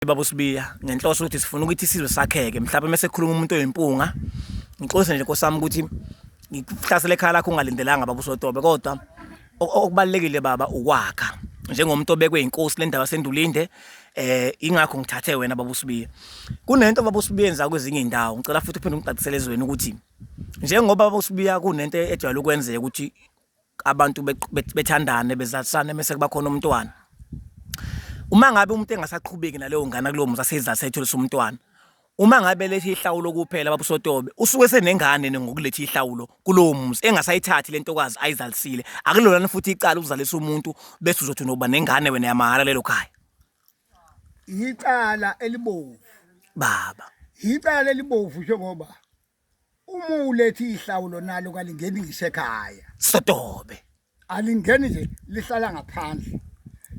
uMholi Baba uSibiya ngenhloso ukuthi sifuna ukuthi isizwe sakheke mhlawumbe uma sekhuluma umuntu oyimpunga ngixolise nje Nkosi yami ukuthi ngikuhlasele ekhaya lakho ungalindelanga Baba uSotobe kodwa okubalekile baba ukwakha njengomuntu obekwe inkosi lendawo sendulinde eh ingakho ngithathe wena baba usibiye kunento baba usibiye enza kwezinye indawo ngicela futhi uphinde ungicacisele ezweni ukuthi njengoba baba usibiya kunento ejwayele ukwenzeka ukuthi abantu bethandane bezalisane mese kuba khona umntwana uma ngabe umuntu engasaqhubeki naleyo ngane kulowo muzi aseyizalisa etholisa umntwana uma ngabe lethi ihlawulo kuphela babusotobe usuke senengane ngokulethi ihlawulo kulowo muzi engasayithathi lentokazi ayizalisile akulona futhi icala ukuzalisa umuntu bese uzothi unoba nengane wena yamahhala lelo khaya yicala elibovu baba yicala elibovu njengoba Uma uletha ihlawulo nalo kalingeni ngisho ekhaya. Sotobe. Alingeni nje lihlala ngaphandle.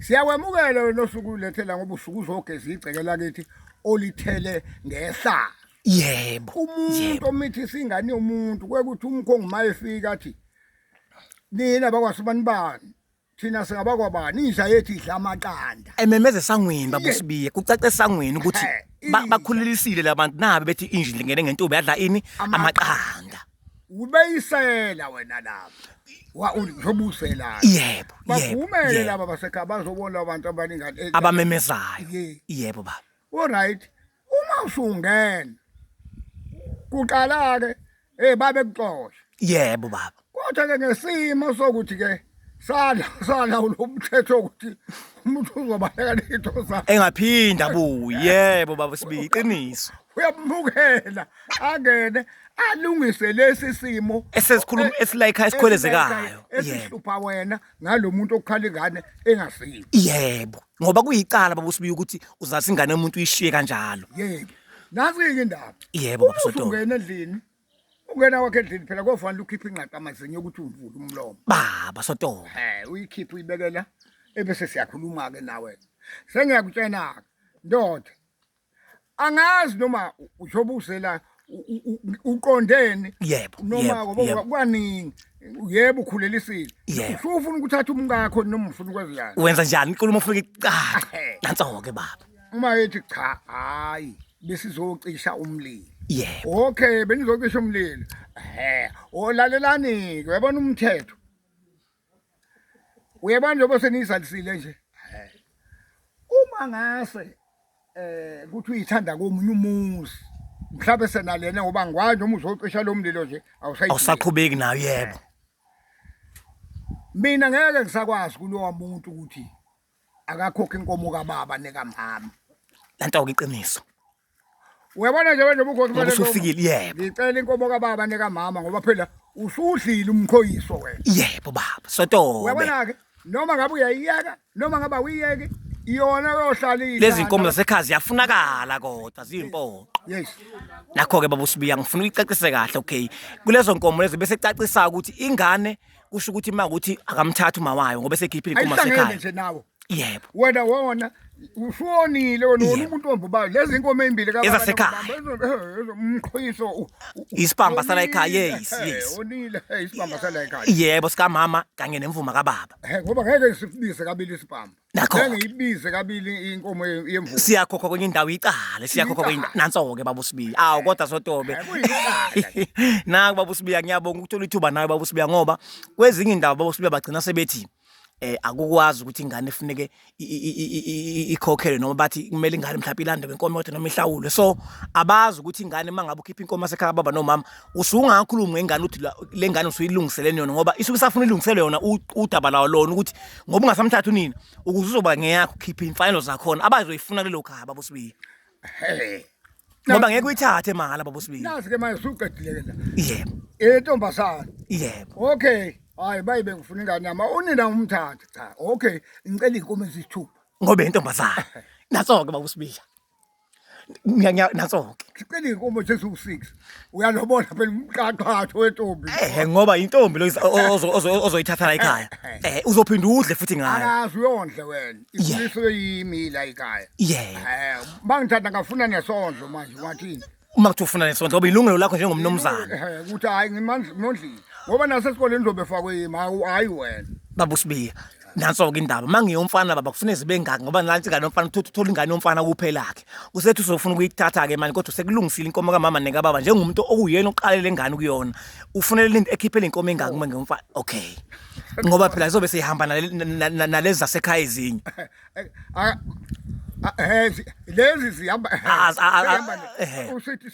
Siyakwemukela wena osuku ulethela ngoba usuku uzogeza igceke lakithi olithele ngehlala. Yebo. Umuntu omithisa ingane yomuntu kwekuthi umkhongi mayefika athi nina bakwaSibanibani thina singabakwabani inja yethu idla amaqanda ememeza esangweni babusibiye kucace esangweni ukuthi Eh, ba- inja. bakhululisile labantu nabe bethi inja indlingene ngentombi yadla ini Ama- amaqanda ubeyisela wena lapha wa uzobuselana yebo yebo bavumele yebo. laba basekhaya bazobona abantu abaningani abamemezayo Ye. yebo baba oright uma usungena kuqala ke hey babe kuxosha yebo baba kodwa ke ngesimo sokuthi ke sala sala ulomthetho ukuthi umuntu uzobaleka lento zakhe engaphinda buyi yebo baba sibi iqiniso uyamukela angene alungise lesi simo esesikhuluma esilayikha esikhwelezekayo yebo esihlupha wena ngalomuntu okukhala ingane engasile yebo ngoba kuyicala baba usibiya ukuthi uzalisa ingane yomuntu uyishiye kanjalo yebo nazi yini indaba yebo baba soto ungena endlini ungena wakhe endlini phela kofanele ukhiphe ingqaqa amazinyo ukuthi uvule umlomo baba soto eh uyikhiphe uyibekela ebese siyakhuluma ke nawe sengiyakutshena ndoda angazi noma uzobuzela uqondeni yebo noma ngoba kwaningi yebo ukhulelisile usufuna ukuthatha umkakho noma ufuna ukwenza njani wenza njani inkulumo ufuna icaca nansoke baba uma ethi cha hayi besizocisha umlilo yebo okay benizocisha umlilo he olalelani ke yabona umthetho uyabona njengoba seniyizalisile nje uma ngase eh kuthi uyithanda komunye umuzi mhlawumbe senalena ngoba ngikwazi noma uzocisha lo mlilo nje awusayi awusaqhubeki nayo yebo mina ngeke ngisakwazi kulowa muntu ukuthi akakhokhe inkomo kababa nekamama lento ke iqiniso Uyabona nje manje ubukhosi Ngoba balento- usufikile yebo ngicela inkomo kababa nekamama ngoba phela usudlile umkhoyiso wena yebo baba sotobe uyabona-ke noma ngabe uyayiyeka noma ngabe awuyiyeki iyona yohlala iyidlala. lezi nkomo zasekhaya ziyafunakala kodwa ziyimpoqo yes nakho-ke baba usibiya ngifuna uyicacise kahle okay kulezo nkomo lezo bese cacisayo ukuthi ingane kusho ukuthi uma ukuthi akamthathi uma wayo ngoba esekhiphile inkomo ayihlangene zasekhaya nje nawo yebo wena wona ushonile wena wona umuntu ombubayo lezi inkomo ezimbili kababa ezasekhaya umqhoyiso um, um, isibamba sala ekhaya yes eh, yes onile eh, isibamba sala ekhaya yebo sika mama kanye nemvuma kababa eh, ngoba ngeke ngisifundise kabili isibamba ngiyibize kabili inkomo yemvuma siyakhokha kwenye indawo icala siyakhokha kwenye nanso ke baba usibiya awu kodwa sotobe naku baba usibiya ngiyabonga ukuthola ithuba nawe baba usibiya ngoba kwezinye indawo baba usibiya bagcina sebethi eh akukwazi ukuthi ingane ifuneke ikhokhelwe noma bathi kumele ingane mhlawumbe ilande ngenkomo kodwa noma ihlawulwe so abazi ukuthi ingane mangabe ukhipha inkomo asekhaya baba nomama usungakhulumi ngengane uthi le ngane usuyilungiseleni yona ngoba isuke isafuna ilungisele yona udaba lawo lona ukuthi ngoba ungasamthatha unina ukuze uzoba ngeyakho ukhiphe imfanelo zakhona abazoyifuna lelo khaya baba usibiya Hey. Ngoba ngeke uyithathe mahhala baba usibili. Nasi ke manje suqedile ke la. Yebo. Intombazana. Yebo. Okay. Hayi bayi bengifuna ingane yami. Unina umthathe cha. Okay. Ngicela inkomo ezisithupha. Ngoba intombazana. Naso ke baba usibili. Ngiya naso ke. Ngicela inkomo eziwu6. uyalobola phela umqaqatho wentombi ehe ngoba intombi lo ozoyithatha la ekhaya eh uzophinda udle futhi ngayo akazi uyondle wena ikhulise yimi la ekhaya yeah eh mangithatha ngafuna nesondlo manje wathini uma kuthi ufuna nesondlo ngoba ilungelo lakho njengomnomzana eh ukuthi hayi ngimandla mondlini ngoba nasesikoleni uzobe fakwe yimi hayi wena babusibiya nanso-ke indaba uma ngiyomfana baba kufune zibe ngaki ngoba nansi ingane yomfana uthutha uthola ingane yomfana kuphelakhe usethi usofuna ukuyithatha-ke mani kodwa sekulungisile inkomo kamama nekababa njengomuntu okuyena oqalele ingane kuyona ufunele into ekhiphele inkomo engaki uma ngiyomfana okay ngoba phela izobe seyihamba nalezi zasekhaya ezinye lezi zihamba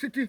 sithi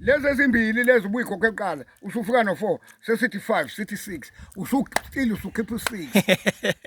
lezi ezimbili lezi ubuyikhokhe kuqala usufika no-four sesithi five sithi six usuqile usukhipha u-six